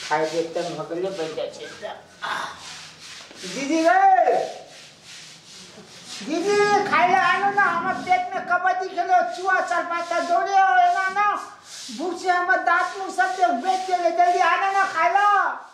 खाय के एकदम भगले बन जाए छे एकदम। आह। दीदी रे दीदी खाय ले आनो ना हमर पेट में कबड्डी खेलो चुआ चार पाता दौड़े हो एना ना भूख से हमर दांत मुंह सब देख बेच के ले जल्दी आना ना खाय ला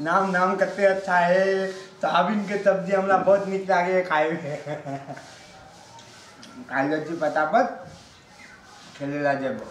नाम नाम कते अच्छा है सोयाबीन के सब्जी हमरा बहुत नीक लागे है खाए में खाए जाइ छी फटाफट खेले ला जेबो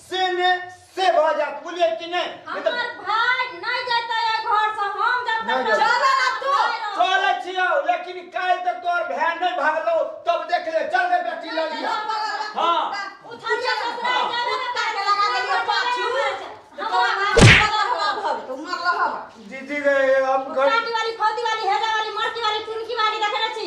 से ने से भऽ जात बुझलियै कि नहि नहि तऽ हमर भाय नहीं जैते है घर से हम जब नहीं तक जैते। चल ना तू। चलै छियौ लेकिन काल्हि तक तोहर भाय नहि भागलो तब देख ले चल रे बेटी लग जा। हाँ। उठिया ससुराल जाबे ना कुत्ता के लगा देलियै पाछू। दीदी रे हम घर काटी वाली फौती वाली हेजा वाली मरकी वाली चुनकी वाली देखे छी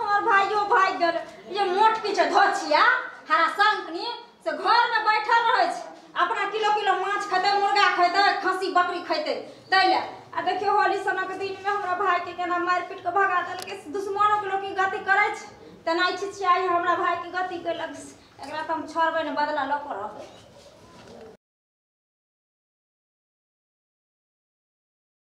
हमर भाइयो भागि गेल ये मोट की छै धोछिया हरा संकनी से घर में बैठल रहे छै अपना किलो किलो माछ खेते मुर्गा खेते खस्सी बकरी खेते तैले आ देखियो होली सनक दिन में हमरा भाई के केना मार पीट के भगा देल के दुश्मनों के लोग की गति करे छै तेना इच्छित छियै आइ हमरा भाई के गति कैलक एकरा त हम छोड़बै ने बदला लऽ कऽ रहबै